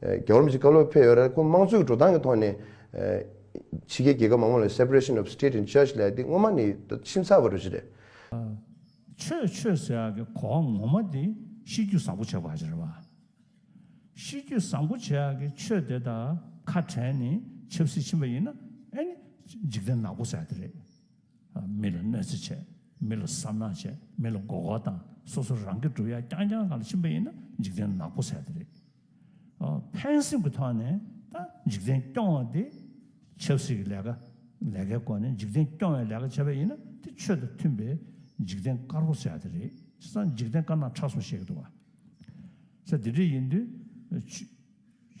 རྒྱ་གར་མི་ཚེ་བཀའ་སློབ་ཕེབས་ཡོད་རེད། ཁོང་དམངས་གཙོའི་འགྲོ་སྟངས་ཀྱི་ཐོག་ནས། ཕྱི་རྒྱལ་རྒྱལ་ཁབ་མང་པོ་ལ Separation of State and Church ལས་འདི་སྔོན་མ་ནི་ཁྱིམ་ཚང་བར་གཞི་རེད། ཆོས་ཆོས་ཟེར་བ་གི་གོ་བ་ངོ་མ་དེ་ཤེས་རྒྱུད་བཟང་པོ་བྱེད་པ་རེད་བ། ཤེས་རྒྱུད་བཟང་པོ་བྱེད་ཡག་གི་ཆོས་དེ་དག་ཁ་བྲལ་ནས་ཆབ་སྲིད་ཕྱིན་པ་ཡིན་ན་ཨེ་ནི་འཇིག་རྟེན་ནག་པོ་ཟེར་དེ་རེད། མི་ལ་གནོད་འཚེ་བྱས་མི་ལ་བསམ་ནག་བྱས་མི་ལ་མགོ་སྐོར་དང་སོ་སོ་རང་གི་སྒྲུབ་ཡ་རྐྱང་རྐྱང་ག་ལ་ཕྱིན་པ་ཡིན་ན་འཇིག་རྟེན་ནག་པོ་ཟེར་དེ་རེད། ཕན་སེམས་ཀྱི་ཐོག་ནས་འཇིག་རྟེན་སྐྱོང་བ་དེ་ཆབ་སྲིད་ཀྱི་ལས་ཀ་ལས་ཀའི་སྐོར་ནས་འཇིག་རྟེན་སྐྱོང་བའི་ལས་ཀ་བྱེད་པ་ཡིན་ན་དེ་ཆོས་དང་མཐུན་པའི་འཇིག་རྟེན་དཀར་པོ་བྱ་དེ་རེད་ཅེས་ན་འཇིག་རྟེན་དཀར་ནག་ཁྲ་གསུམ་བཤད་ཀྱི་འདུག་ས་དེ་འདྲ་ཡིན་དུས་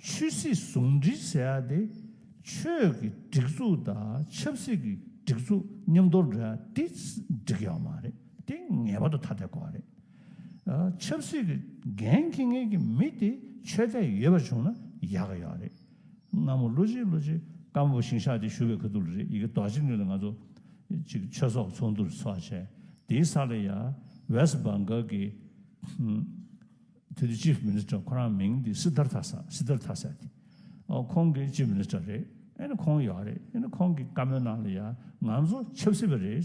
ཆོས་སྲིད་ཟུང་འབྲེལ་ཟེར་ཡ་དེ་ཆོས་ཀྱི་སྒྲིག་འཛུགས་དང་ཆབ་སྲིད་ཀྱི་སྒྲིག་འཛུགས་མཉམ་དུ་འདྲེས་ཡོད་མ་རེད་དེ་ངེས་པར་དུ་ཐ་དད་དགོས་པ་རེད། ཆབ་སྲིད་ཀྱི་འགན་འཁྱེར་མཁན་གྱི་མི་དེ་ཆོས་དད་ཡོད་པ་བྱུང་ན་ཡག་གི་ཡག་རེད། སྔ་མོ་ལོ་གཅིག་ལོ་གཅིག་ཀ་མོ་པོ་ཞིང་ཤག་དེ་ཞུ་བའི་ཁ་ཐུག་ལ་རེད་ཡི་གེ་དོག་ཅིག་ནུས་ལ་ང་ཚོ་ཅིག་ཆོས་ཚོགས་ཚོགས་འདུར་ཚོགས་བྱས་དེའི་ས་ལ་ཡ West Bengal གི་དེ་དུས Chief Minister ཁོ་རང་མིང་དེ་སི་དར་དྷ་ས་སི་དར་དྷ་སད་དེ་ཁོང་གི Chief Minister རེད་ཨ་ནི་ཁོང་ཡག་རེད་ཨ་ནི་ཁོང་གི་བཀའ་མོལ་ནང་ལ་ཡ་ང་ཚོ་ཆབ་སྲིད་པ་རེད།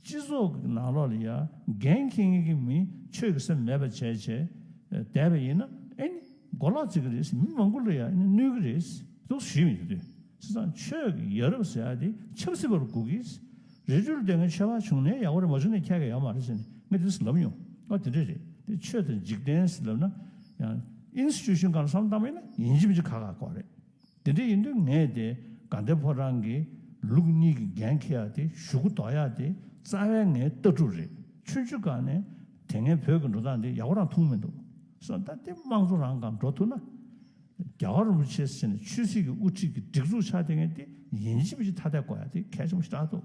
སྤྱི་ཚོགས་ཀྱི་ནང་ལོགས་ལ་ཡར་འགན་འཁྱེར་མཁན་གྱི་མིས་ཆོས་ཀྱི་སེམས་མེད་པ་བྱས་བྱས་བསྡད་པ་ཡིན་ན་ཨེ་ནི་མགོ་ལག་བརྩིག་གི་རེད་ཟེར་མི་མང་པོ་ལ་ཡང་གནོད་གི་རེད། སོགས་ཞུས་ཡོད་དུས་སི་ཚང་ཆོས་ཀྱི་ཡ་རབས་ཟེར་བ་དེ་ཆབ་སྲིད་པ་རུ་གོ་གིས་རི་ཁྲོད་ལྟོས་ངན་ཆོས་པ་བྱུང་ནས་ཡག་པོ་རེད་མ་བྱུང་ནས་ཁྱད་ག་ཡོད་མ་རེད་ཟེར་ནས་ངས་དེ་ལབ་མྱོང་ཨ་དེ་འདྲ་རེད་དེ་ཆོས་དང་འཇིག་རྟེན་ཟེར་ལབ་ན་ཡང Institution གང་བསམ་བཏང་པ་ཡིན་ན་ཡིན་གཅིག་མིན་གཅིག་ག་ག་ཀོ་རེད། དེ་འདྲ་ཡིན་དུས་ངས་དེ་དགའ་ལྡན་ཕོ་བྲང་གི་ལུགས་གཉིས་ཀྱི་འགན་འཁྱེར་ཡག་དེ་ཞུ་གུ་འདོགས་ཡག་དེ་རྩ་བའི་ངའི་ལྟ་གྲུབ་རེད་ཆུན་ཆུན་དགའ་ནས་དེ་ངས་བོད་ཀྱི་འགྲོ་སྟངས་འདི་ཡག་པོ་རང་མཐོང་མི་འདུག་གསུངས་ད་ལྟའི་དམངས་གཙོ་རང་གང་འགྲོ་ཐུབ་ན་རྒྱ་གར་རིན་པོ་ཆེ་ཟེར་ནས་ཆོས་སྲིད་ཀྱི་དབུ་ཁྲིད་ཀྱི་སྒྲིག་འཛུགས་ཆགས་དེ་ངས་དེ་ཡིན་གཅིག་མིན་གཅིག་ཐ་དད་གོ་ཡག་དེ་གལ་ཆེན་པོ་ཞིག་རག་འདུག།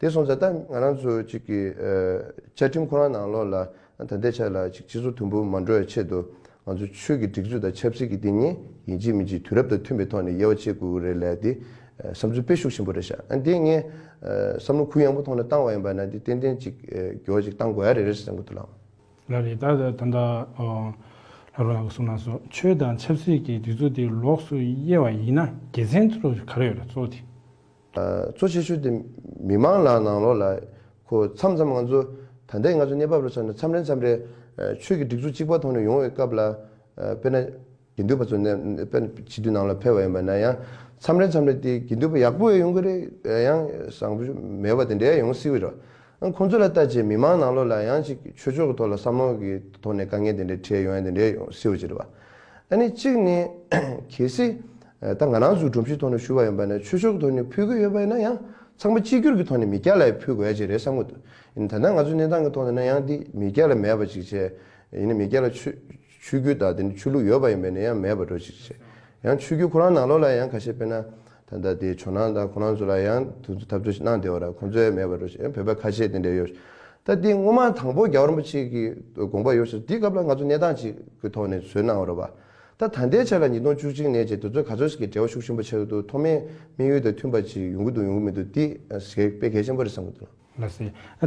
དེ་སོང་ཙང་ད་ང་རང་ཚོ་གཅིག་གི་བཅའ་ཁྲིམས་ཁོ་རང་ནང་ལོགས་ལ་ད་འདེད་ཆགས་ལ་གཅིག་སྤྱི་ཚོགས་དུམ་བུ་མ་འགྲོ་བའི་ཆེད་དུ་ང་ཚོ་ཆོས་ཀྱི་སྒྲིག་འཛུགས་དང་ཆབ་སྲིད་ཀྱི་སྡིག་ཉེས་ཡིན་གཅིག་མིན་གཅིག་དུས་རབས་དང་མཐུན་པའི་ཐོག་ནས་དབྱེ་བ་ཕྱེ་དགོས་ཀྱི་རེད་ལད་དེ་བསམ་ཚུལ་དཔེ་ཤུགས་ཆེན་པོ་རེད་ཤག་ཨ་འདི་ངས་བསམ་བློ་ཁུར་ཡངས་པོ་ཐོག་ནས་བཏང་བ་ཡིན་པ་ན་འདི་ཏན་ཏན་གཅིག་འགྱོ་གཅིག་བཏང་དགོས་ཡ་རེད་རེད་བསམ་གྱི་འདུག་ལགས། ལ་རེད་ད་ད་ད་ལྷ་རོ་ལགས་གསུངས་ན་སོ་ཆོས་དང་ཆབ་སྲིད་ཀྱི་སྒྲིག་འཛུགས་དེ་ལོགས་སུ་དབྱེ་བ་ཡིན་ན་རྒྱལ་མཚན་ཚོ་ག་རེ་ཡོད་ར་ཚོ་དེ་གཙོ་ཆེ་ཤོས་དེ་མི་མང་ལ་ནང་ལོགས་ལ་གོ་འཚམ་འཚམ་ང་ཚོ་ད་ལྟའི་ང་ཚོའི་གནས་བབ་ལ་མཚོན་ན་འཚམ་རེ་འཚམ་རེ་ཆོས་ཀྱི་སྒྲིག་འཛུགས་གཅིག་པ་ཐོག་ནས་ཡོང་བའི་སྐབས་ལ་དཔེར་ན་དགེ་འདུན་པ་ཚོ་ནས་དཔེར་ན་བྱིས་དུས་ནང་ལ་ཕེབས་པ་ཡིན་པ་ན་ཡང་འཚམ་རེ་འཚམ་རེ་དེ་དགེ་འདུན་པ་ཡག་པོ་བས་ཡོང་གི་རེད་ཡང་བཟང་པོ་མེད་པ་དེ་འདྲས་ཡོང་སྲིད་རེད་ཨང་ཁོང་ཚོ་ལ་ལྟ་ཆེད་མི་མང་ནང་ལོགས་ལ་ཡང་ཅིག་ཆོས་ཕྱོགས་ཀྱི་ཐོག་ལ་བསམ་བློ་གི་ཐོག་ནས་དཀའ་ངལ་དེ་འདྲས་འཕྲད་ཡོང་ཡང་དེ་འདྲས་ཡོང་སྲིད་རེད་བ། ཨ་ནི་གཅིག་ནི། གལ་སྲིད། ད་ང་རང་ཚོས་སྒྲོམ་གཞིའི་ཐོག་ནས་ཞུ་བ་ཡིན་པ་ནས་ཆོས་ཕྱོགས་གི་ཐོག་ནས་ཕུལ་གྱི་ཡོད་པ་ཡིན་ན་ཡང་ཚང་མ་གཅིག་གྱུར་གྱི་ཐོག་ནས་མི་སྐྱ་ལ་ཡང་ཕུལ་དགོས་ཡ་གཅིག་རེད་བསམ་གྱི་འདུག་ཡིན་ད་ལྟ་ང་ཚོའི་གནས་སྟངས་ཀྱི་ཐོག་ནས་ན་ཡང་འདི་མི་སྐྱ་ལ་མེད་པ་ཅིག་བྱས་ཡིན་ན་མི་སྐྱ་ལ་ཆོས་ཆོས་རྒྱུད་དང་དེ་ནས་ཆོས་ལུགས་ཡོད་པ་ཡིན་པས་ན་ཡང་མེད་པ་འགྲོ་ཅིག་བྱས་ཡང་ཆོས་རྒྱུད་ཁོ་རང་ནང་ལོགས་ལ་ཡང་ཁ་ཤས་དཔེར་ན་ད་ལྟ་དེའི་ཇོ་ནང་དང་ཁོ་རང་ཚོ་ལ་ཡང་དུས་ཚོད་འཐབ་རྩོད་ཞིག་གནང་བདེ་བ་ར་ཁོང་ཚོའི་མེད་པར་འགྲོ་ཞེས་བོད་པའི་ཁ་ཆེ་དེ་འདྲས་ཡོད། ད་དེ་སྔོན་མ་དང་པོ་རྒྱ་རིན་པོ་ཆེ་གི་དགོངས་པ་ཡོད་ས་དེའི་སྐབས་ལ་ང་ཚོ་གནས་སྟངས་ཅིག་གི་ཐོག་ནས་བཟོས་གནང་རོགས་པ། ད་ད་ལྟའི་ཆ་ལ་ཉིས་སྟོང་བཅུ་གཅིག་ནས་རྗེས་དུས་ཚོད་ག་ཚོད་ཞིག་གི་འབྲེལ་བ་ཤུགས་ཆེན་པོ་ཆགས་ཀྱི་འདུག་ཐོག་མའི་དམིགས་ཡུལ་དང་མཐུན་པ་ཅིག་ཡོང་གི་འདུག་ཡོང་གི་མི་འདུག་དེ་ཟེར་དཔེ་གལ་ཆེན་པོ་རེད་བསམ་གྱི་འདུག། ལ་སེ། ད